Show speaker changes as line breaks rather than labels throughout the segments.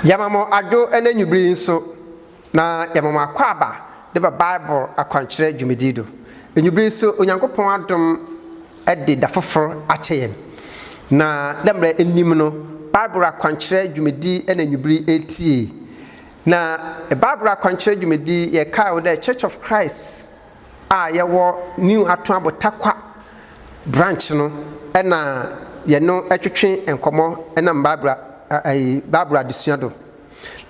Yɛma mo adwo na enyibir yi so na yɛma mo akwaaba de ba Bible akwankyerɛ dwumadzi do. Enyibir yi so Onyankopɔn adom de da fofor akyɛ hɛn. Na dɛ mbrɛ inyim no, Bible akwankyerɛ dwumadzi na enyibir yi eretsie. Na Bible akwankyerɛ dwumadzi yi yɛkaa wo dɛ Church of Christ. a yɛwɔ New Atuabo Tarkwa branch no na yɛno twetwe nkɔmmɔ nam Bible ɛyi Bible adesua do.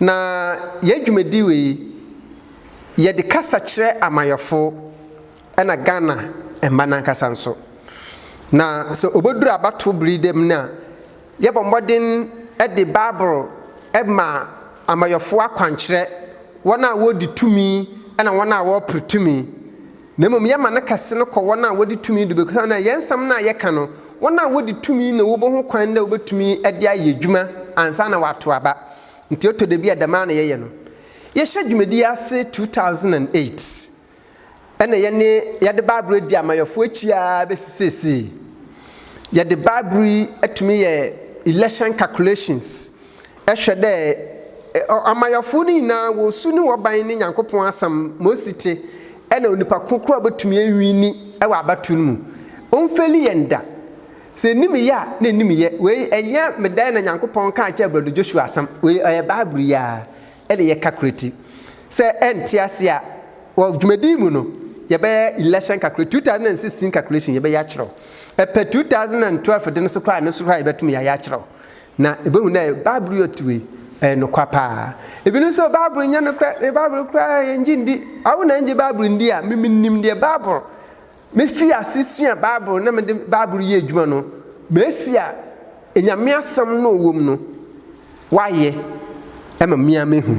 Na yɛn dwumadi wei yɛde kasa kyerɛ amayɔfo ɛna Ghana mma nankasa nso. Na sɛ obeduru abatow bere dɛm no a Yɛbɔ mmɔden de Bible ma amayɔfo akwankyerɛ, wɔn a wodi tumi ne wɔn a wɔpere tumi, na mmom yɛma no kɛse no kɔ wɔn a wodi tumi de baabi, na yɛn nsɛm no a yɛka no, wɔn a wodi tumi na wɔbɔ ho kwan dɛ wobetumi de ayɛ adwuma ansa na wɔato aba. Nti ɛtɔ da bi a dɛm ara na yɛyɛ no. Yɛhyɛ dwumadi yi ase 2008. na yɛne yɛde Bible adi amayɔfoɔ akyi ara bɛsi seesei. Yɛde Bible yi atumi yɛ election calculations ɛhwɛ dɛ amayɔfoɔ no nyinaa wɔ su ne wɔban ne Nyankopɔn asɛm ma osi te ɛna onipa ko koro a ɔbɛtumi awini ɛwɔ abatoɔ no mu. Ɔmfeli yɛn da. Sɛ ɛnim yɛ a na ɛnim yɛ. Wei ɛnyɛ medae na Nyankopɔn kaa kyerɛ Brado Joshua asɛm. Wei ɛyɛ Bible yi ara. ɛne yɛ kakrati sɛ ɛnte ase a wɔ dwumadi mu no yɛbɛyɛ election kakra 2016 calculation yɛbɛyɛ akyerɛw ɛpɛ 2012 de no so koraa ne so koraa yɛbɛtum yɛayɛ akyerɛw na ɛbɛhu dɛ bible yɛ ɔtiwe ɛyɛ nokwa paa ebi no sɛ bible nyɛ nokorɛ ne bible koraa yɛngye ndi awo na ɛngye bible ndi a memenim deɛ bible Mifii ase suaa Bible na mede Bible reyɛ adwuma no, masi a Nyame asɛm na ɔwom no wayɛ ma me ara mahu.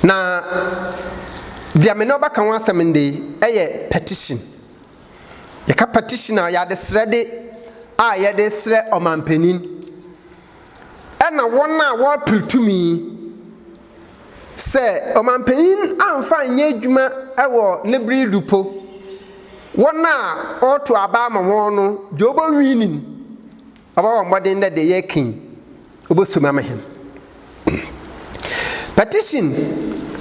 Na deɛ me ne wo bɛka ho asɛm ndɛ yi yɛ petition. Yɛka petition a, yɛ adesrɛde a yɛde srɛ ɔmanpanin na wɔn a wɔpere tumi Sɛ ɔmampanyin ammfa annyɛ edwuma wɔ ne ber yi do mpo, hɔn a ɔrotow aba ama hɔn no dze obowiin no, ɔbɔbɔ mbɔdzen dɛ dza yɛreka yi oboso mu ama hɛn. Petition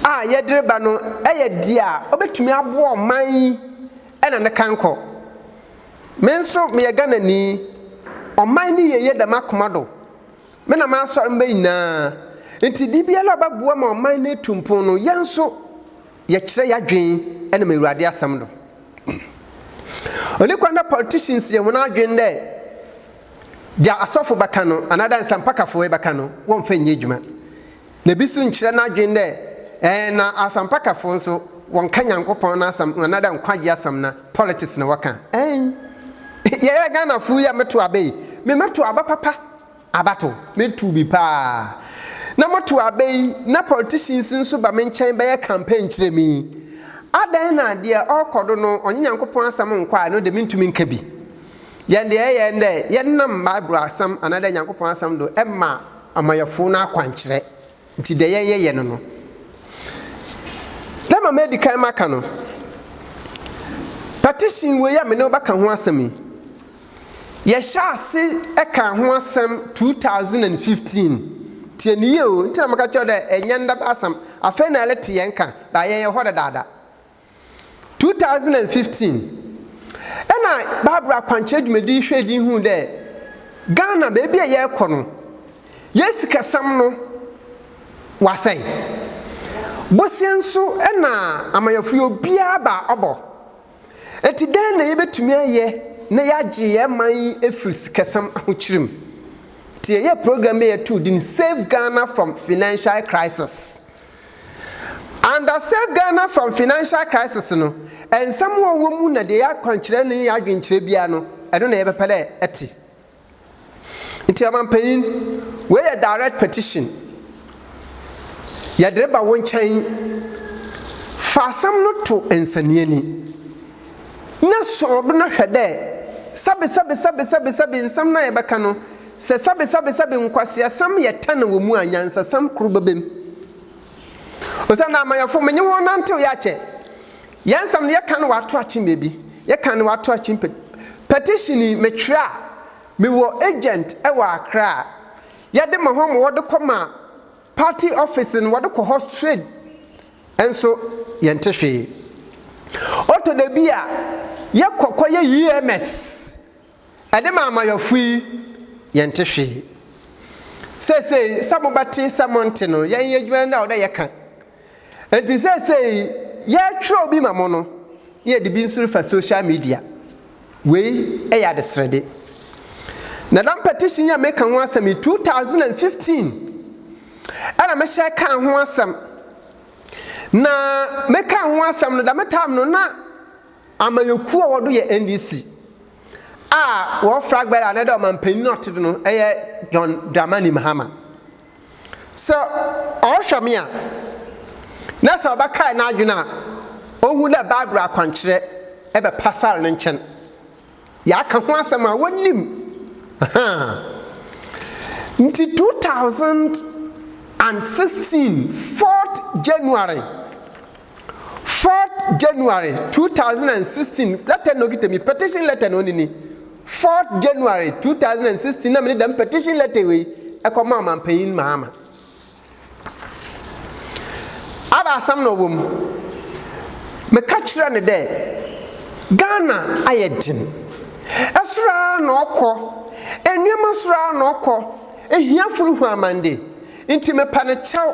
a yɛdze reba no yɛ dza obetumi aboa ɔman yi na ne kankɔ. Me so meyɛ Ghananyi, ɔman ne yieyɛ da m'akoma do. Me na m'asɔr mba nyinaa. Ntsi de biara a ɔbɛboa ma ɔman no etu mpon no, yɛn so yɛkyerɛ y'adwen nam Ewuradze asɛm do. Onnyi kwan dɛ politicians yɛ hɔn adwen dɛ dza asɔfo bɛka no anaa dɛ nsɛmpakafo yi bɛka no wɔmmfa nnyɛ edwuma. Na bi so nnkyerɛ n'adwen dɛ ɛɛ na asampakafo so wɔnnka Nyankopɔn n'asɛm no anadɛ nkwagye asɛm na politics na wɔka a. Ɛɛn, yɛyɛ Ghanafo yi a metow aba yi, me mɛtow aba papa, abatow, metow bi paa. Na motow aba yi na politicians nso ba me nkyɛn bɛyɛ campaign kyerɛ me yi, adɛn na deɛ ɔɔkɔ do no ɔnye Nyankopɔn asɛm nnkɔ a, ɛno de menntumi nka bi. Yɛn deɛ ɛyɛ ndɛ yɛnam Bible asɛm anadɛ Nyankopɔn asɛm do ma. amayɛfoo no akwankyerɛ ntsi dɛ yɛyɛ yɛ no no. Dɛ ma medi kan maka no, petition wei a menye wo bɛka ho asɛm yi, yɛhyɛɛ ase kaa ho asɛm two thousand and fifteen, tsie no yie o, ntsi na meka kyerɛ wo dɛ nnyɛ ndɛ bɛasɛm, afei na yɛretse hɛn nkã, but yɛyɛ hɔ dedaada. two thousand and fifteen ɛna Bible akwankyerɛ dwumadi hwɛ din hu dɛ Ghana baabi a yɛrekɔ no yɛ sikasɛm no wasɛe boseɛ nso ɛna amayɔfo yɛ obiara ba ɔbɔ ɛti dɛn na yɛbɛtumi ayɛ na yɛagye yɛn man yi ɛfiri sikasɛm ahokyere mu ti yɛyɛ program bɛ yɛtoo din Save Ghana from Financial Crisis Under Save Ghana from Financial Crisis no, nsɛm a ɔwɔ mu na deɛ yɛ akwankyerɛ ne yɛ adwenkyerɛ biara no, ɛno na yɛbɛpɛ dɛ ɛte. Nti ɔmampanyin, wei yɛ direct petition. Yɛde reba wo nkyɛn. Fa asɛm no to nsɛnneani na sɔɔ do na hwɛ dɛ sɛbesɛbesɛbesɛbesɛbe nsɛm no a yɛbɛka no, Sɛ sɛbesɛbesɛbe nkwaseasɛm yɛ tan wɔ mu a, nyansasɛm koro bɛbam. Osiandɛ amanyɛfo, menye hɔn nantsew yɛ akyɛ. Yɛn nsɛm no, yɛkã no wɔ atoakye mbeebi, yɛkã no wɔ atoakye mpe petition yi metwerɛ a, mewɔ agent wɔ Accra a yɛde ma hɔn ma wɔde kɔma party office no, wɔde kɔ hɔ straight nso yɛnte hwee. Ɔtɔ da bi a, yɛkɔ kɔyɛ EMS. Ɛde ma amayɔfo yi, yɛnte hwee. Seesei, sɛ mobɛte, sɛ monte no, yɛnyɛ adwuma no dɛ a ɔwɔ dɛ yɛka. Enti seesei, yɛretwerɛw bi ma mo no, na yɛde bi nso refa social media. Wei yɛ adesrɛde. Na dɛm petition yi a meka ho asɛm yi, 2015 ɛna mehyɛ kaa ho asɛm. Na mekaa ho asɛm no, dɛm time no, na Amanyɛkuo a wɔdo yɛ NDC a wɔ flag bearer anaa dɛ ɔmanpanin a ɔte do no yɛ John Dramani Mahama. Sɛ ɔrohwɛ me a, na sɛ ɔbɛkae n'adwen a, ohu dɛ Bible akwankyerɛ bɛ pasar ne nkyɛn. Yɛaka ho asɛm a wonnyim. Ahaa. Ntsi two thousand and sixteen fourth January. Fourth January two thousand and sixteen lɛtɛ na okita mi petition lɛtɛ na onini Fourth January two thousand and sixteen na mi de dɛm petition lɛtɛ wei ɛkɔ ma ɔmanpanyin Mahama aba asɛm na ɔwɔ mu meka kyerɛ ne dɛ Ghana ayɛ den ɛsoro ara na ɔkɔ nneɛma soro ara na ɔkɔ ehiafo rehu amande nti mepɛ ne kyɛw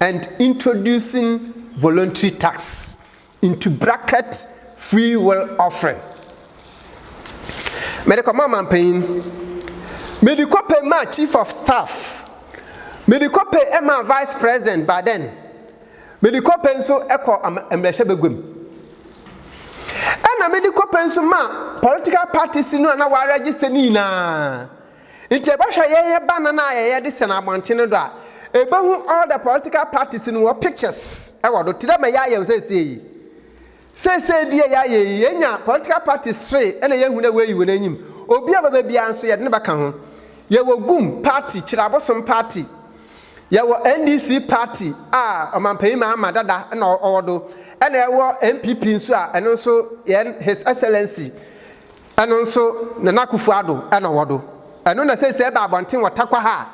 and introducing voluntary tax into bracket free will offering. Mede kɔma ɔmanpanyin. Mede kɔpɛ ma chief of staff. Mede kɔpɛ ma vice president by then. Mede kɔpɛ nso kɔ mmarahyɛ baguam. Ɛna mede kɔpɛ nso ma political parties no a na wɔaregister no nyinaa. Ntsi ebɔhwɛ yɛyɛ banana a yɛyɛ de sɛn abɔntsen no do a, ebohu all the political parties no hɔn pictures wɔ do, tse dɛ ma yɛayɛ no sesei yi. Sesei deɛ yɛayɛ yi, yenya political parties three na yehu dɛ woeyi hɔn enyim. Obi a ɔbɛba biara so, yɛdze no bɛka ho. Yɛwɔ gum party, Kyerɛ Abosom party. Yɛwɔ NDC party a Ɔmampanyin Mahama dada na ɔwɔ do. Nna yɛwɔ NPP nso a, ɛno nso yɛn His Excellency, Ɛno nso Nana Akuffo Addo na ɔwɔ do. Ɛno na sɛ sɛ yɛba abɔnten wɔ Tarkwa ha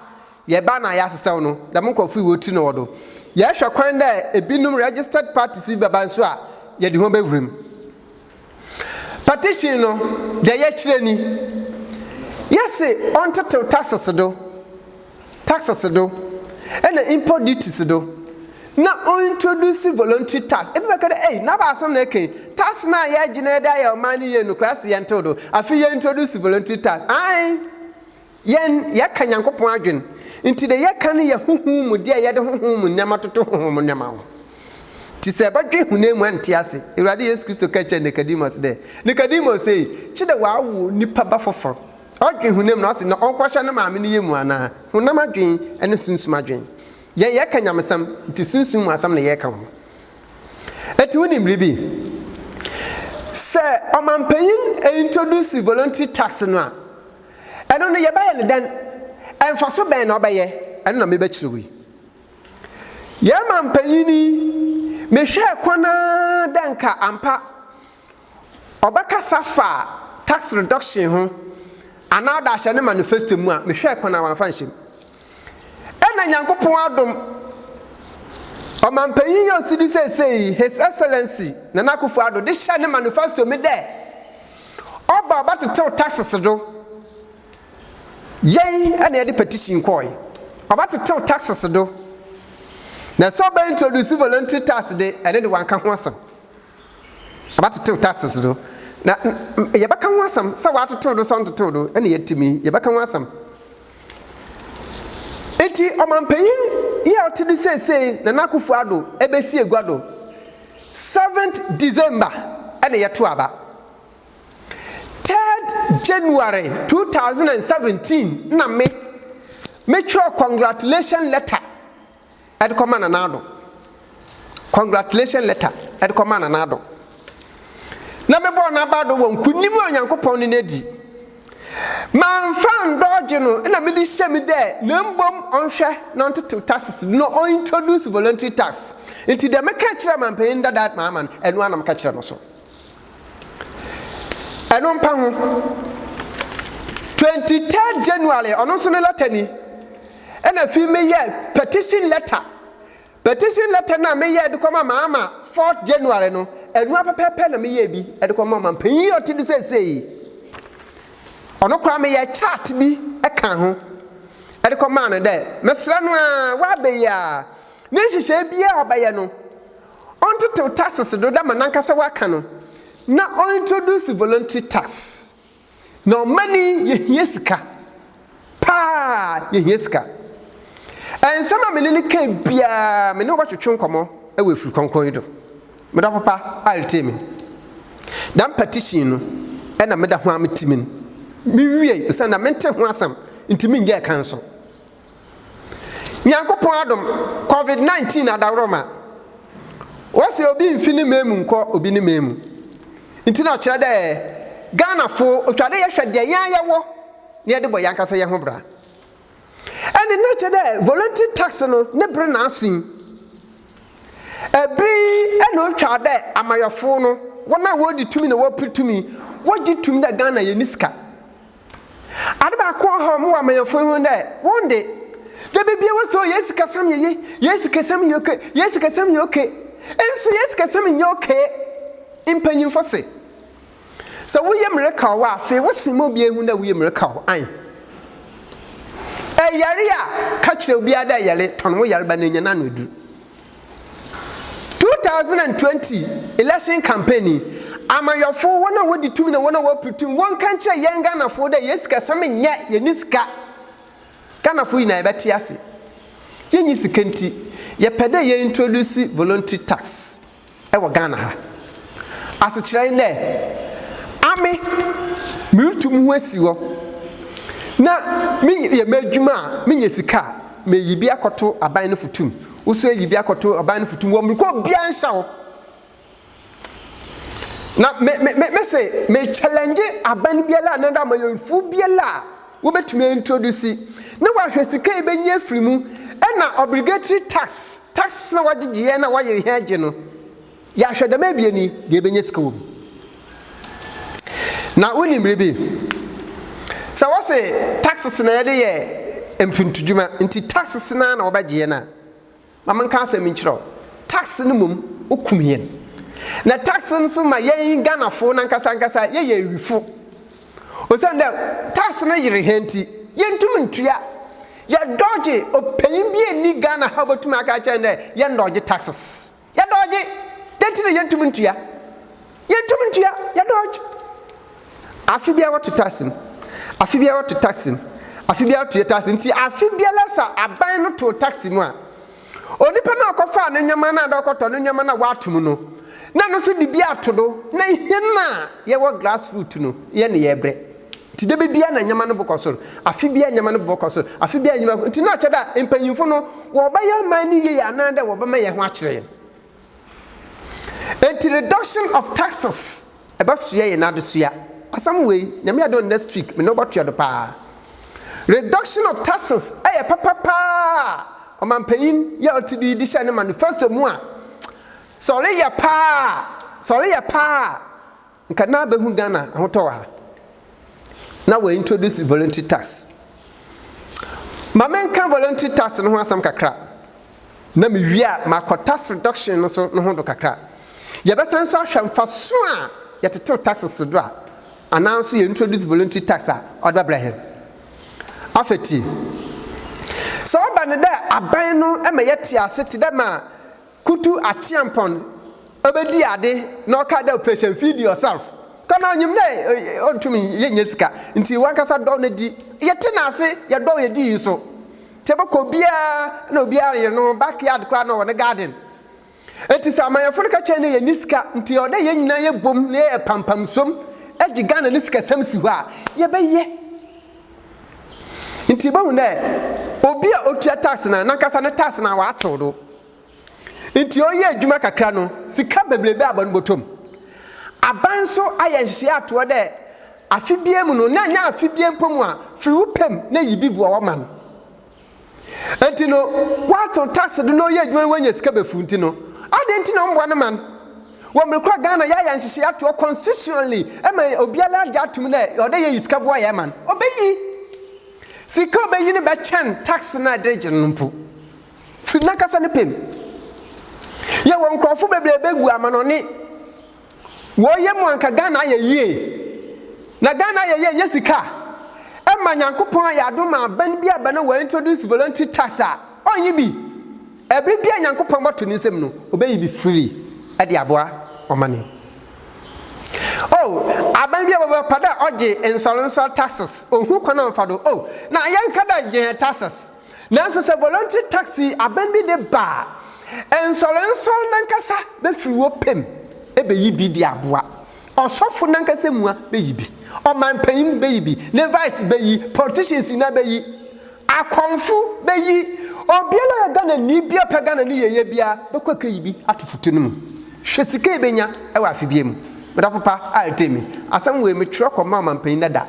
a, yɛba na yɛasesɛw no. Dɛm nkorɔfo yi wɔtri na ɔwɔ do. Yɛhwɛ kwan dɛ binom registered parties bi bɛba nso a, yɛde hɔn bɛwura mu. Petition no, dza yɛkyerɛ ni. Yɛse ɔntsetsew taxes do taxes do na import duties do na o introduce voluntary tax ebi bɛka dɛ ei n'aba asɛm na ɛka yi tax no a yɛregye no ɛde ayɛ ɔman no yie no koraa se yɛntew do afei yɛ introduce voluntary tax ae yɛn yɛka nyankopɔn adwen nti de yɛka no yɛ honhom mu deɛ yɛde honhom mu nneɛma toto honhom mu nneɛma ho nti sɛ ɛbɛdwe honam mu ɛnte ase awurade yesu kristo ka kyerɛ nicodemus dɛ nicodemus ei kye dɛ wɔawo nipa ba foforo Ɔdwen honam no ase na ɔnkɔhyɛ ne maame no yam anaa? Honam adwene ne sunsum adwene. Yɛn yɛka nyamesɛm, nti sunsum mu asɛm na yɛka ho. Enti wonim biribi? Sɛ ɔmampanyin introduce voluntary tax no a, ɛno no yɛbɛyɛ no dɛn? Mfaso bɛn na ɔbɛyɛ? Ɛno na mebɛkyerɛ wo yi. Yɛn mampanyin yi, mehwɛɛ kwan ara dɛ nka ampa Ɔbɛkasa fa tax reduction ho anaa ɔde ahyɛ ne manifesto mu a, mehwɛɛ kwan a wamfa nhyɛ mu. Ɛna Nyankopɔn adom, Ɔmanpanyin yi a ɔsi do seesei yi, His Excellency Nana Akufo-Addo de hyɛɛ ne manifesto mu dɛ ɔba a ɔbɛtsetsew taxes do. Yɛn na yɛde petition kɔɔe. Ɔbɛtsetsew taxes do. Na sɛ ɔbɛ introduce voluntary tax de, ɛno de wɔanka ho asɛm. Wɔatetew Tarsis do, na yɛbɛka ho asɛm, sɛ wɔatetew do sɛ wɔnntetew do, nna yɛatim yi, yɛbɛka ho asɛm. Ntsi ɔmampanyin yi a ɔtse do sesei, Nana Akufo Addo, besi egua do seventh December na yɛtoo aba. Third January two thousand and seventeen na me metwerɛɛ congratulation letter ɛde kɔma Nana Addo. Congratulation letter ɛde kɔma Nana Addo. Na mebɔɔ n'aba do wɔ nkunim a Onyankopɔn ne no adi. Mamfa ndɔɔgye no na mede hyɛ me dɛ na mbom ɔnhwɛ na ɔntetew taxes do na ɔintroduce voluntary tax. Ntsi dɛ mekãa kyerɛɛ mampanyin dadaad maama no, ɛno ara na mekã kyerɛɛ no so. ɛno mpa ho 23 january ɔno nso ne lɛta ni ɛna afei meyɛ petition lɛta petition lɛta no a meyɛ de kɔma maama 4 january no ɛno apɛpɛpɛ na meyɛ bi de kɔma ma mpanyin a ɔte bi seesei ɔno koraa meyɛ chart bi ɛka ho ɛde kɔmaa no dɛ mesrɛ no a woabɛyi a ne nhyehyɛe biara a ɔbɛyɛ no ɔntsetsew taxes do dɛ ma nankasa ɔaka no na ɔintroduce voluntary tax na ɔman yi yehia sika paa yehia sika nsɛm a mene no kae biaa mene wo bɛtwetwe nkɔmɔ wɔ efir krɔnkrɔn yi do meda papa a retsie me dɛm petition no na meda ho a metse min menwiei osiandɛ mente ho asɛm ntsi mennyɛɛ kan so. Nyankopɔn adom, covid 19 adaworoma. Wɔse obi nfi ne man mu nkɔ obi ne man mu. Nti na ɔkyerɛ dɛ Ghanafo otwa dɛ yɛhwɛ deɛ yɛn ara yɛwɔ na yɛde bɔ yɛn ankasa yɛn ho bra. Ɛne na kyerɛ dɛ voluntary tax no ne bere na aso yi. Ɛbere yi na otwa dɛ amayɔfo no, wɔn a wɔdi tumi na wɔpere tumi, wɔgye tum dɛ Ghana yɛnni sika. Ade baako a ɔhaw me wɔ amanyɛfo yi ho ne dɛ, hɔn de, da biara wose, Oh, hɛn sikasɛm yɛ yie, hɛn sikasɛm yɛ okay, hɛn sikasɛm yɛ okay. Nso hɛn sikasɛm nnyɛ okay. Mpanyimfo se, Sɛ wo yamu rekaw wo a, afei wosen ma obiara ehu dɛ wo yamu rekaw wo. Ae. Eyare a, ka kyerɛ obiara dɛ eyare, tɔn wo yarba na nya no ano edur. Two thousand and twenty election campaign yi, amanyɔfo, wɔn a wɔdi tumi na wɔn a wɔpere tumi, wɔnka nkyerɛ yɛn Ghanafo dɛ yɛn sikasɛm nyɛ, yɛnni sika. Ghanafo nyinaa yɛbɛte ase, yɛnni sika nti, yɛpɛ dɛ yɛ introduce voluntary tax. wɔ Ghana ha. Asekyerɛ nye dɛ, ame murutu moho esi hɔ na meyɛ m'edwuma a menya sika a, meyi bi akɔto aban no foto mu, wo so eyi bi akɔto aban no foto mu wɔ mber kor biara nnhyɛ wo. Na me me mese me challenge aban biara anaadɛ amanyɛnfuw biara a. wobɛtumi aintrodusi na wahwɛ sika yi bɛnya afiri mu ɛna obligatory tax tax na wagyegyeɛ na wayere hɛn agye no yɛahwɛ dɛm abien yi deɛ ɛbɛnya sika wɔ mu na wonim biribi sɛ wɔse taxes na yɛde yɛ mfuntudwuma nti taxes na na wɔbɛgyeɛ no a Ma menka asɛm nkyerɛ wo, tax no mmom okum yɛn. Na tax no nso ma yɛn Ghanafo no ankasa ankasa yɛyɛ awifo. Osiandɛ tax no yer hɛn ntsi, yenntum nntua. Yɛdɔɔgye, ɔpanyin bi a ɔnni Ghana ha obotum aka akyerɛ hɛn dɛ yɛndɔɔgye taxes. Yɛdɔɔgye! Dɛn ntsi na yenntum nntua? Yɛntumi ntua, yɛ dodge. Afe biara wɔto tax no, afe biara wɔto tax no, afe biara wɔto yɛ tax no. Nti afe biara sɛ aban no too tax mu a, onipa no a ɔkɔfaa ne nneɛma no a na ɔkɔtɔ ne nneɛma no a wɔato mu no, na no nso de bi ato do, na hɛn a yɛwɔ grassroot no, yɛne yɛbrɛ. Nti da biara na nneɛma no bokɔ sor, afe biara nneɛma no bokɔ sor, afe biara nneɛma, nti na ɔkyerɛ dɛ a mpanyimfo no wɔbɛyɛ ɔman no yie anaa dɛ wɔbɛma hɛn ho akyerɛ hɛn. Enti reduction of taxes ɛbɛsoɛ yɛn adesua. Asɛm wei, Nyame adom a next week me ne wo bɛtoa do paa. Reduction of taxes ɛyɛ papa paa a Ɔmanpanyin yi a ɔte do yi de hyɛɛ ne manifesto mu a, sɛ ɔreyɛ paa a, sɛ ɔreyɛ paa a, Nka na bɛhu Ghana ahotɔ wɔ ha na wɔ introduce voluntary tax. Ma menka voluntary tax no ho asɛm kakra na mewie a makɔ tax reduction no so no ho do kakra. Yɛbɛsan nso ahwɛ mfaso a yɛtetew taxes do a anaa nso yɛ introduce voluntary tax a ɔde bɛbrɛ hɛn. Afei tie. Sɛ ɔba no dɛ aban no ma yɛtse ase tse dɛ ma Kutu Acheampong obedi ade na ɔka dɛ operation feed yourself kɔ na onyim dɛ onntum nnyɛ sika ntsi wankasa dɔw no dzi. Yɛtse no ase, yɛdɔw yɛ dzii so. Ntsi ebɔkɔ obiara na obiara reyɛ noho backyard koraa na ɔwɔ ne garden. Ntsi sɛ amanyɛfo no ka kyerɛ no dɛ yɛnnyi sika ntsi ɔwɔ dɛ hɛn nyina yɛbɔ mu na yɛyɛ pampamsuom gye Ghana ne sikasɛm si hɔ a, yɛbɛyɛ. Ntsi ibohu dɛ obi a otua tax no, nankasa ne tax no ɔatsew do. Ntsi ɔyɛ edwuma kakra no, sika beberebe abɔ no bɔtɔ mu. Aban so ayɛ nhyehyɛɛ ato hɔ dɛ afe biara mu no, na nnyɛ afe biara mpo mu a, fir wo pɛ mu na yi bi boa wo ma no. Enti no, wɔatew tax do na ɔyɛ edwuma no oenya sika bɛfuw ntsi no, adɛn ntsi na ɔmmboa ne man? Wɔ mber kor a Ghana yɛayɛ nhyehyɛɛ ato hɔ constitutionally ma obiara agye ato mu dɛ ɔwɔ dɛ yeyi sika boa hɛn man, obeyi. Sika a obeyi no bɛkyɛn tax no a yɛdze regye no no mpo, fir nankasa ne pɛ mu. Yɛwɔ nkorɔfo beberee begu amanɔne. Woi yɛ mu anka Ghana ayɛ yie na Ghana ayɛ yie nyɛ sika ɛma Nyankopɔn ayɛ adom a bɛn bi a bɛn wɔ introduce voluntary tax a ɔnyi bi ɛbere bi a Nyankopɔn bɛto ne nsam no ɔbɛyi bi freely ɛde aboa ɔmane oh abɛn bi a wɔbɛ pɛ dɛ ɔgye nsɔre nsɔre taxes ɔhu kwan a ɔmfa do oh na yɛn ka dɛ gye yɛn taxes Nanso sɛ voluntary taxi aban bi de ba a, nsɔrensɔre no ankasa bɛfiri hɔ pɛ mu bɛyi bi de aboa. Ɔsɔfo no ankasa mua bɛyi bi. Ɔmanpanin bɛyi bi. Levites bɛyi. Politicians nyinaa bɛyi. Akɔmfo bɛyi. Obiara a ɔyɛ Ghanani biara ɔpɛ Ghana ne yieyɛ biara bɛkɔ akɛyi bi ato foto no mu. Hwɛ sika a yɛbɛnya wɔ afe biara mu. Madam Apopa, Artemi, asɛm wei metwerɛ kɔmaa ɔmanpanin dada.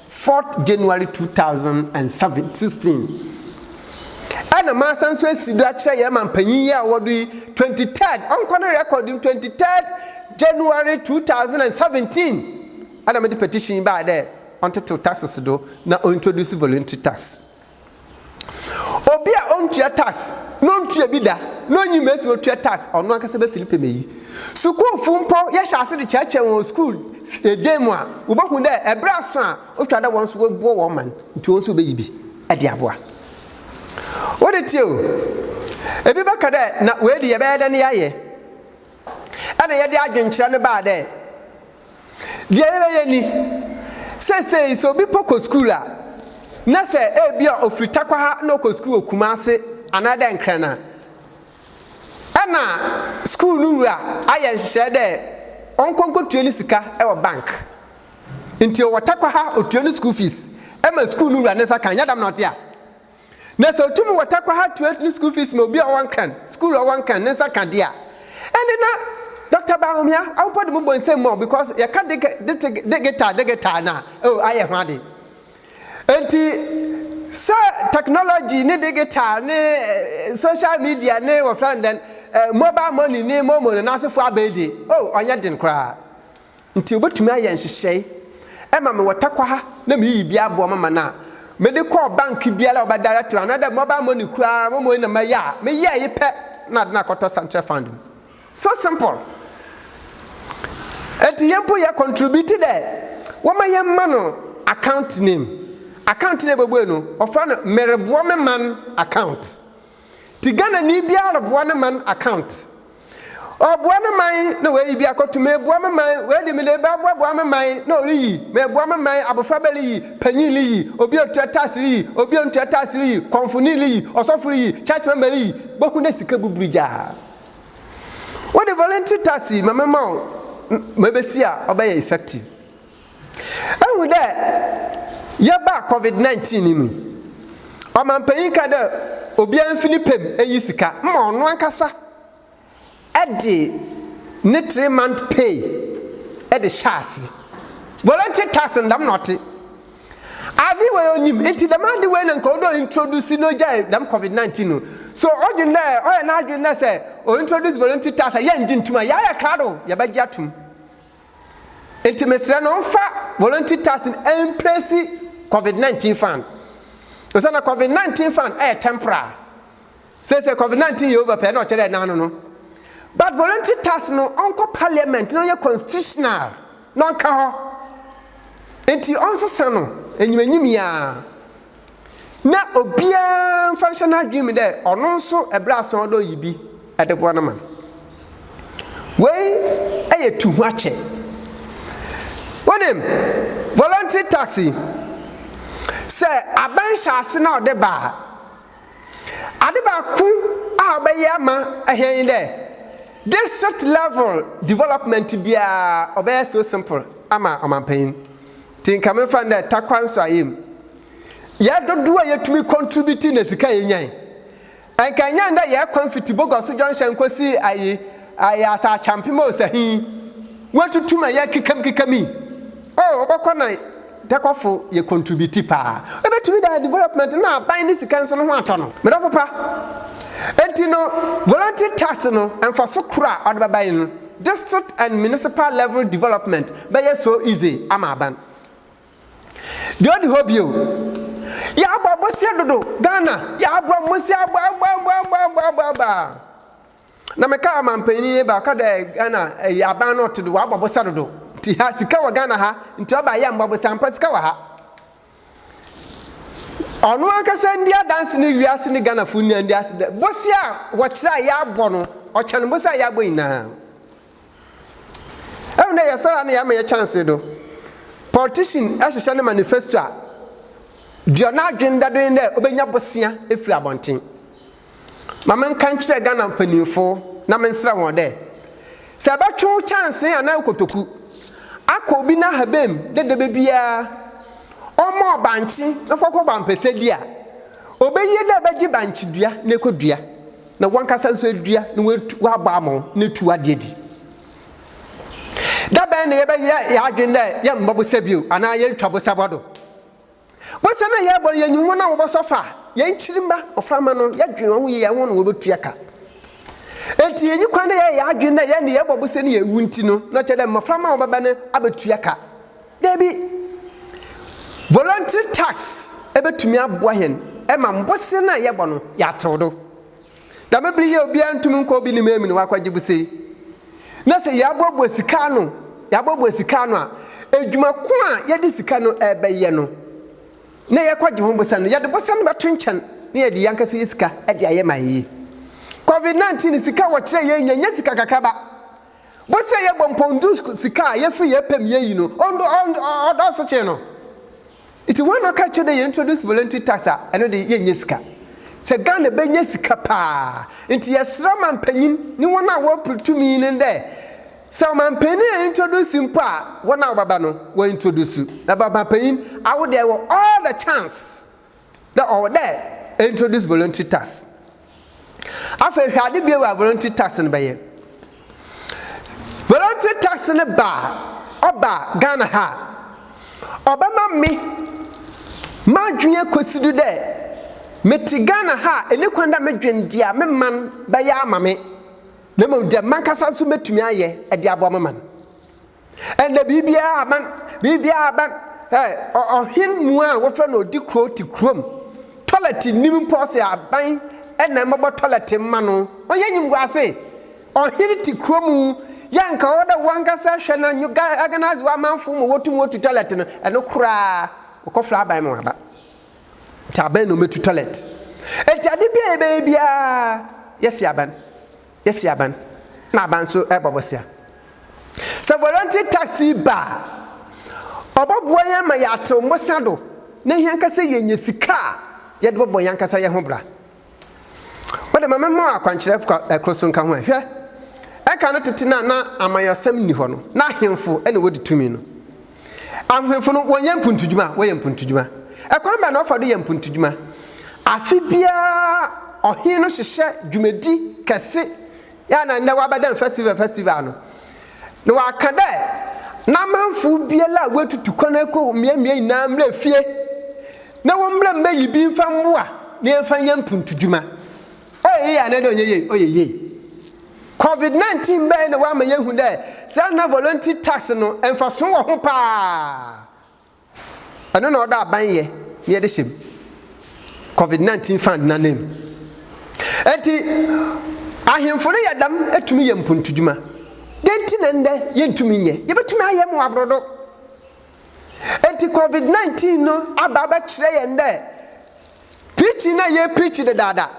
Fourth January two thousand and seven sixteen ɛna masan nso asi do akyerɛ yɛn ma mpanyin yi a ɔwɔ do yi twenty third ɔnkɔ ne record no twenty third January two thousand and seventeen ɛna mede petition yi baa dɛ ɔntetew taxes do na ɔintroduce voluntary tax Obi a ontua tax na ontua bi da na onyi mesi otua tax ɔno ankasa bɛ fili pɛmɛ yi. Sukuufo mpo yɛhyɛ ase de kyerɛkyerɛ wɔn wɔ sukuu dan mu a, wobehu dɛ ɛbere aso a otwa dɛ wɔn nso wɔboa wɔn man nti wɔn nso wobeyi bi de aboa. Wo de tie o, ebi bɛka dɛ na wei de yɛbɛyɛ dɛn yɛayɛ? na yɛde adwenkyerɛ no baa dɛ, Deɛ yɛbɛyɛ ni, Seesei sɛ obi mpo kɔ sukuu a, na sɛ ebia ɔfiri Tarkwa ha na ɔkɔ sukuu wɔ Kumase anaa dɛ Nkran a, ɛna sukuu no wura ayɛ nhyehyɛeɛ dɛ ɔnkɔ nkɔtua ne sika wɔ bank. Nti ɔwɔ Tarkwa ha, ɔtua ne sukuu fees ma sukuu no wura ne nsa ka, nyɛ dɛm na ɔte a? Na sɛ otum wɔ takwaha tuatua ne skuul fees ma obi a ɔwɔ Nkran, skuul a ɔwɔ Nkran, ne nsa ka de a, ɛnde na Dɔkta Bawumia awopɔ de mo bɔ nsam ma wo because yɛka dege, dete, degetaa, degetaa no a, oh, ayɛ ho ade. Enti, sɛ technology ne degetaa ne eh, social media ne wɔfrɛ no dɛn, eh, mobile money ne momo no n'asefo abɛn de, oh, ɔnyɛ den koraa. nti wobɛtumi ayɛ nhyehyɛe ma me wɔ Tarkwa ha na meyiyi bi aboɔ mama no a mede kɔɔ bank biara a wɔbɛ direct me anaadɛ mobile money koraa mo mmoi na mɛyɛ a meyɛɛ yi pɛ na ade no akɔtɔ Sanctuary Fund mu so simple nti yɛn mpo yɛ contribute dɛ wɔma yɛn ma no account name account na ɛbɛbue no wɔfrɛ no mereboɔ me man account Nti Ghanani biara reboa ne man account. Ɔreboa ne man na wayi bi akɔto, meboa me man, wei de mede bɛboaboa me man na ɔreyi, meboa me man, abofra bɛ reyi, panyin reyi, obi a ɔtua tax reyi, obi a ɔntua tax reyi, kɔmfoni reyi, ɔsɔfo reyi, church member reyi, bohu dɛ sika buburu gyaa. Wode voluntary tax yi ma me ma wo na mebɛsi a ɔbɛyɛ effective. Ehu dɛ yɛbaa covid nineteen no mu yi, ɔmampanyin kaa dɛ obiara mfi ne pɛ mu nyi sika mma ɔno ankasa de ne three month pay de hyɛ ase. Voluntary tax no dɛm na ɔtse. Ade wei onyim ntsi dɛm ade wei na nka ɔwɔ dɛ ointroduce na ogyae dɛm covid nineteen no. So ɔdwen dɛ ɔyɛ n'adwen dɛ sɛ ointroduce voluntary tax a yɛnngye nntum a yɛayɛ krado yɛbɛgye ato mu. Nti mesrɛ no ɔmfa voluntary tax no ɛmplesi covid 19 fund ɛsɛ na covid 19 fund ɛyɛ temporal sɛsɛ covid 19 yɛ over pɛ na ɔkyerɛ ɛna ano no but voluntary tax no ɔnkɔ parliament na ɔyɛ constitutional na ɔnka hɔ nti ɔnsesa no enyimanyim yaa na obiara mfa nhyɛ n'adwene mu dɛ ɔno nso bere asa ɔdɔ yi bi de boa no ma no. Wei yɛ tu ho akyɛ. Wonim, voluntary tax yi, sɛ aban hyɛ ase na ɔde ba a, ade baako a ɔbɛyɛ ama hɛn nye dɛ, district level development biara ɔbɛyɛ so simple ama ɔmampanyin. Nti nka memfa no dɛ takwa nsɔayɛ mu, yɛ dodow a yetumi contribute na sika a yenyae. Nka enye ndɛ yɛ kwan fitsi Bogoso Junction kosi ayi ayi Asaachampem a osahi yi woetutu ma yɛ kekam kekam yi. Oh, ɔbɔkɔ na takwafo yɛ contribute paa. Obetumi dɛ development na aban ne sika nso no ho atɔ no. Me dɔfo pa, ntsi no volunteer tax no mfaso kor a ɔdze bɛba nye no. District and municipal level development bɛyɛ so easy ama aban. Deɛ ɔdi hɔ bio, yɛabɔ aboseɛ dodo, Ghana yɛabɔ aboseɛ aboaboaboaboaboaboa. Na me kaa ɔmanpanin yi ba, ɔka dɛ Ghana ɛyi aban no ɔte do, wabɔ aboseɛ dodo. Nti ha sika wɔ Ghana ha, nti ɔba yɛ mbɔ aboseɛ, ampa sika wɔ ha. Ɔno ankasa ndi adanse ne wiase ne Ghanafo nyinaa ndi ase dɛ bosea a wɔkyerɛ a yɛabɔ no, ɔkyɛn bosea a yɛabɔ nyinaa. Ɛhu dɛ yɛsɔre a na yɛama yɛ chance do. Politician hyehyɛ ne manifesto a, deɛ n'adwene da do ne dɛ obenya bosea afiri abɔnten. Ma menka nkyerɛ Ghana mpanyimfo na mensrɛ hɔn dɛ, sɛ bɛtwew kyɛnsee anaa kotoku akɔ obi n'ahaban mu dɛ da biara ɔmma ɔbankye na ɔfa kɔbɔ ampɛsɛ bi a, obeye dɛ bɛgye bankyedua na ekodua, na wankasa so edua na oetu ɔabɔ ama wo na etu ade adi. Da bɛn na yɛbɛyɛ hɛn adwen dɛ yɛmmbɔ bosa bio anaa yɛrentwa bosa bɔ do? Bosea no a yɛrebɔ no, yɛnyim hɔn a wɔbɔsɔ fa, hɛn kyirmba, mboframba no, yɛdwen hɔnho yie a, hɔn na wobotua ka. Ntsi yennyi kwan dɛ yɛyɛ yɛadwen dɛ yɛn de yɛbɔ bosea no yeewu ntsi no, na ɔkyerɛ dɛ mboframba a wɔbɛba no abotua ka. Dabi. Voluntary tax bɛtumi aboa hɛn ma bosea no a yɛbɔ no, yɛatsew do. Dɛm ber yi a obiara nntum nnkɔ obi ne mame no ɔakɔgye bose yi, na sɛ yɛaboaboa sika ano yɛaboaboa sika ano a, edwuma ko a yɛdze sika no rebɛyɛ no na yɛkɔgye ho bose no, yɛdze bose no bɛto nkyɛn na yɛdze yankasa yɛ sika dze ayɛ ma ayɛyie. Covid 19 sika a wɔkyerɛɛ yɛn nya nnyɛ sika kakraba. Bose a yɛbɔ mpɔn du sika a yɛfir yɛpɛ mu yɛyi no, ɔdɔɔso kyɛn no. Nti wɔn na ɔka kyerɛ dɛ yɛ introduce voluntary tax a ɛno de yɛ nyɛ sika. Sɛ Ghana bɛ nyɛ sika paa nti yɛ srɛ manpanyin ne wɔn a wɔ pre tumi no dɛ sɛ ɔmanpanyin a introduce mpo a wɔn a wɔbɛba no wɔ introduce na bɛ ɔmanpanyin awo deɛ wɔ all the chance dɛ ɔwɔ dɛ introduce voluntary tax. Afei hwɛ ade bio a voluntary tax no bɛyɛ. Voluntary tax no ba a, ɔba Ghana ha a, ɔbɛma me m'adwene akosi do dɛ mete Ghana ha a, enni kwan dɛ medwen dza me man bɛyɛ ama me, na mbom dza mankasa so metumi ayɛ dze aboa me man. Ɛnna biribiara aban, biribiara aban. Ɛ ɔhen mu a wɔfrɛ no ɔdi kuro te kurom. Tɔlɛt nnim mpo ɔse aban ɛna mmɛbɔ tɔlɛt mma no. Ɔnyɛ nyimguase. Ɔhen te kurom yɛ anka ɔwɔ dɛ wankasa hwɛ na organise w'amanfo ma wɔtum wɔtu tɔlɛt no. Ɛno koraa ɔkɔfrɛ aban ma wɔaba. Nti aban na ɔmmɛtu tɔlɛt. Nti ade biara yɛbɛyɛ biara yɛse aban. yɛsi aban na aban nso bɔ bosea. Sɛ voluntary tax yi ba a, ɔbɔboa yɛn ma yɛatew mmosea do na hia nka sɛ yenya sika a yɛde bɔbɔ yɛn ankasa yɛn ho bra. Wode ma memmɔ akwankyerɛ koro so nka ho ɛ. Hwɛ, ɛka no tete no a na amanyɔsɛm nni hɔ no, na ahemfo na wodi tumi no. Ahwehwɛfo no, wɔnyɛ mpontudwuma? Wɔyɛ mpontudwuma. Ɛkwan bɛn na wɔfa do yɛ mpontudwuma? Afe biara ɔhen no hyehyɛ dwumadi kɛse a na ndɛ wɔabɛdan festival festival no, na wɔaka dɛ n'amanfo biara a woetutu kwan akɔ mbeambea nyina mbra fie na wɔmbra mbeyi bi mfa mboa na yɛmfa nyɛ mpontudwuma. Ɔyɛ yie anaadɛ ɔnyɛ yie? Ɔyɛ yie. Covid 19 bɛɛ na wama yɛhu dɛ saa nna voluntary tax no mfaso wɔ ho paa. Ɛno na ɔdɔ aban yɛ na yɛde hyɛ mu. Covid 19 fund no anan mu. Enti ahemfo no yɛ dɛm tumi yɛ mpontudwuma. Dɛn nti na ndɛ yɛntumi nyɛ? Yɛbɛtumi ayɛ ma wɔaborɔdo. Enti Covid 19 no aba abɛkyerɛ yɛn dɛ Preaching na yɛ preach dedaada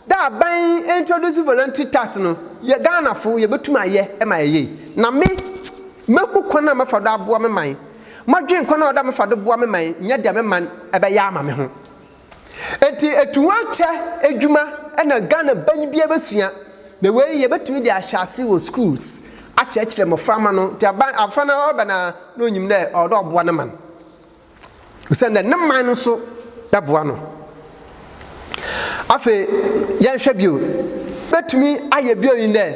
dɛ aban introduce voluntary tax no yɛ Ghana fo yɛ bɛtum ayɛ ma ayɛ yie na me mɛ hu kwan a mɛ fa do aboa me man mɔ dwen kwan a ɔda mɛ fa do boa me man nyɛ deɛ me man bɛ yɛ ama me ho nti etu ho akyɛ adwuma ɛna Ghana ban bia bɛ sua na wei yɛ bɛtumi de ahyɛ ase wɔ schools akyerɛkyerɛ mmɔfra ma no nti aban afra na ɔbɛ na na onyim dɛ ɔwɔ dɛ ɔboa ne man. Osiandɛ ne man no so bɛboa no. Afei yɛnhwɛ bio, bɛtumi ayɛ bio nye dɛ,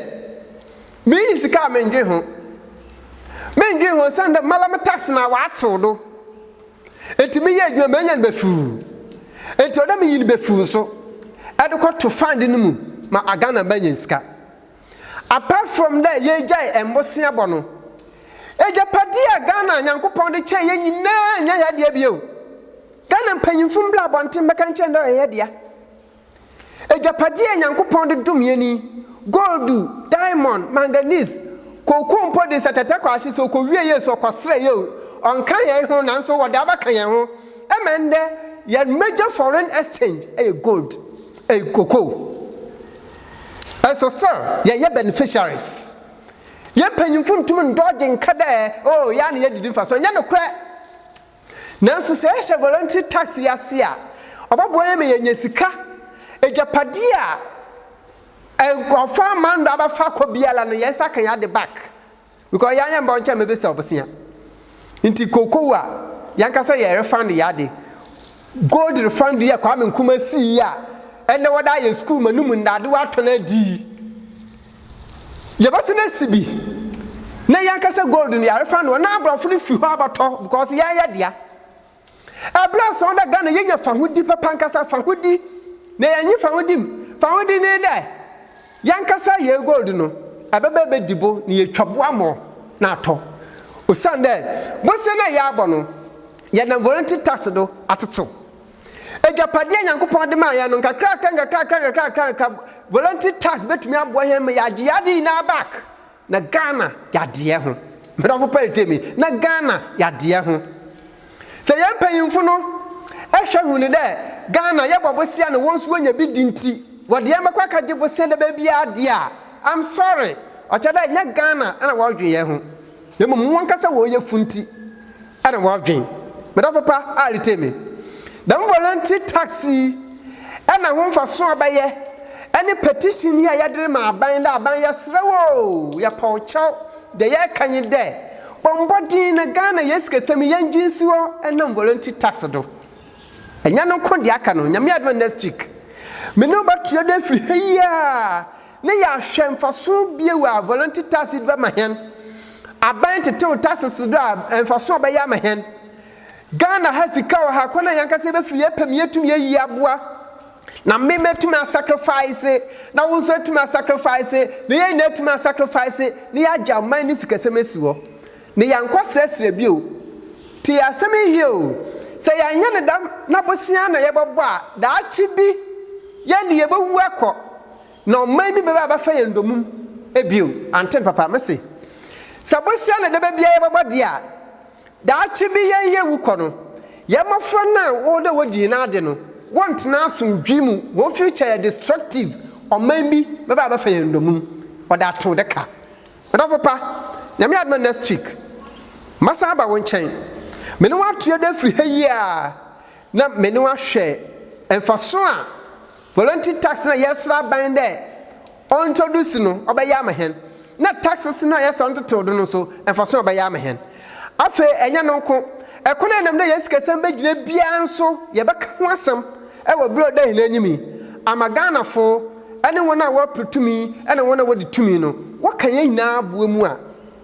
minnyi sika a menndwen ho. Menndwen ho osiandɛ mara me tax no a wɔatsew do. Ntsi meyɛ edwuma menya no befuu. Ntsi ɔwɔ dɛ miyi no befuu so dze kɔto fund no mu ma Ghana mba enya sika. Apart from dɛ yɛregyae mbosea bɔ no, egyapadze a Ghana Nyankopɔn dze kyɛɛ yɛn nyina nnyɛ hɛn dea bio. Ghana mpanyimfo mbra abɔnten bɛka nkyerɛ hɛn dɛ ɔyɛ hɛn dea. Egyapadze a Nyankopɔn dze dom hɛn yi, goldu, diamond, manganese, cocoa mpo dze nsɛtsɛtsɛ kɔ ahye, sɛ okowie yie so, ɔkɔserɛ yie o, ɔnnka hɛn ho naaso wɔdze abɛka hɛn ho. Ɛma ndɛ, hɛn major foreign exchange yɛ gold, cocoa. Nso ser yɛyɛ beneficiaries. Yɛn mpanyimfo ntum ndɔɔgye nka dɛ, oh, yɛa na yedidi mfa so. Nnyɛ nokorɛ. Nanso sɛ yɛhyɛ voluntary tax yi ase a, ɔbɔboa yɛn ma yɛanya sika. Egyapadeɛ a nkorɔfo aman do abɛfa akɔ biara no, yɛn nsa ka yɛn ade back. Because yɛn yɛn bɔ nkyɛn mebisa ɔbosea nti cocoa a yɛn kasa yɛ refund yɛ ade gold refund yɛ Kwame Nkrumah sii yɛ a ɛnɛ wɔde ayɛ school ma no mu ndade wɔatɔn adi yi yɛbɛsɛ na si bi na yɛn kasa gold no yɛ refund wɔn na aborɔfo no fi hɔ abɛtɔ because yɛn yɛ dea. Ɛberɛ a sɔn dɛ Ghana yɛnya fahodi papa ankasa, fahodi, na yɛnye fahodi mu, fahodi ne dɛ yɛnkasa yɛn gold no, ɛbɛba ɛbɛdi bo na yɛtwa bo amɔ na atɔ. Osian dɛ bosea no a yɛabɔ no, yɛnam voluntary tax do atsetsew. Egyapadeɛ a Nyankopɔn de maa yɛn no, nkakrakra, nkakrakra, nkakrakra, voluntary tax bɛtumi aboa hɛn ma yɛagye yɛn ade nyinaa back. Na Ghana yɛ adeɛ ho. Madamfo Perry tell me, na Ghana yɛ adeɛ ho. Sɛ yɛn mpanyimfo no hwɛ hu no dɛ Ghana yɛbɔ bosea na wɔn nso wɔnya bi di nti, wɔde yɛn bɛkɔ akɛgye bosea daba biara di a, I'm sorry, ɔkyerɛ dɛ ɛnyɛ Ghana na wɔredwen yɛn ho, na mmom wɔn ankasa wɔn yafunu nti. Ɛna w'adwen. Me dɔfo pa a retie me. Dɛm voluntary tax yi ɛna ho mfaso a bɛyɛ ɛne petition yi a yɛde rema aban dɛ aban yɛsrɛ wo o yɛpɔw kyɛw deɛ yɛreka nye dɛ bɔ mbɔden na Ghana yɛn sikasɛm yi yɛngye nsi hɔ ɛnam voluntary tax do. Ɛnyɛ no nko deɛ aka no Nyame adom a next week me ne wo bɛtoa do afiri ha yi a na yɛahwɛ mfaso bio a voluntary taxes do bɛma hɛn, aban tsetsew taxes do a mfaso a ɔbɛyɛ ama hɛn. Ghana ha sika wɔ ha, kwan a hɛnankasa yebefir yɛpɛ mu yetum yeyi aboa na me metum asacrifice na wo so etum asacrifice na hɛn nyina etum asacrifice na yɛagye aman ne sikasɛm esi hɔ na yɛannkɔ serɛserɛ bio. Tsie asɛm yi hwɛ o, sɛ yɛannyɛ no dɛm na bosea na yɛbɔbɔ a, daakye bi, hɛn de yebowu akɔ. Na ɔman bi bɛba abɛfa yɛn ndɔmum bio, anten papa? Mese, sɛ bosea na daba biara yɛbɛbɔ deɛ a, daakye bi yɛn yɛwu kɔ no, yɛn mmɔfra no a wɔwɔ dɛ wɔdi yɛn ade no, wɔntena asomdwee mu, wɔn future yɛ destructive, ɔman bi bɛba abɛfa yɛn ndɔmum, wɔde ato dɛ ka. M'adɔfo pa, Nyame adom a next week, mɛsan aba wo nkyɛn, me ne wo ato yɛdɔ afiri ha yi ara, na me ne wo ahwɛ mfaso a, Voluntary tax na yɛresrɛ aban dɛ ɔntroduce no, ɔbɛyɛ ama hɛn. Na taxes no a yɛsɛ ɔntsetseww do no so, mfaso a ɔbɛyɛ ama hɛn. Afei, nnyɛ no nko, kwan a yɛnam dɛ hɛn sikasɛm begyina biara so, yɛbɛka ho asɛm wɔ ber a ɔda hɛn enyim yi, ama Ghanafo ne hɔn a wɔreper tumi na hɔn a wɔdzi tumi no, wɔkã hɛn nyina aboa mu a,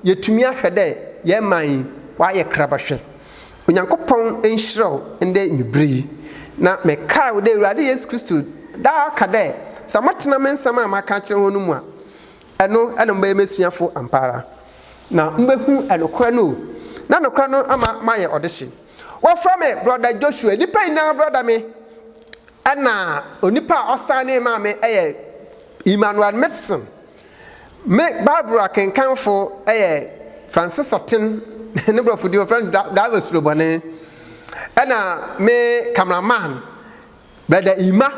yeetumi ahwɛ dɛ hɛn man yi ɔayɛ krabahwe. Onyankopɔn nhyira wo ndɛ ewiber yi. Na mekae wo dɛ Ewuradze Yesu Kristo daa ka dɛ, Sɛ motsena me nsɛm a makã akyerɛ hɔn no mu a, ɛno na mobɛyɛ m'esuafo ampaara, na mobehu nokwar no o, na nokwar no ama moayɛ ɔdehye. Wɔfrɛ me Brɔda Joshua, nyimpa nyina brɔda me, na onipa a ɔsanee maa me yɛ Emmanuel Mixon. Me Bible akenkanfo yɛ Francis Ɔten, ne borɔfo di wɔfrɛ no Driver Surobɔne, ɛna me cameraman Brother Ima,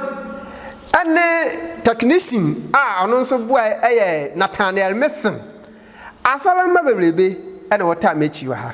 ɛne technician a ɔno nso boa yɛ Nathaniel Mason. Asɔremma bebrebe na wɔtaa m'akyi wɔ ha.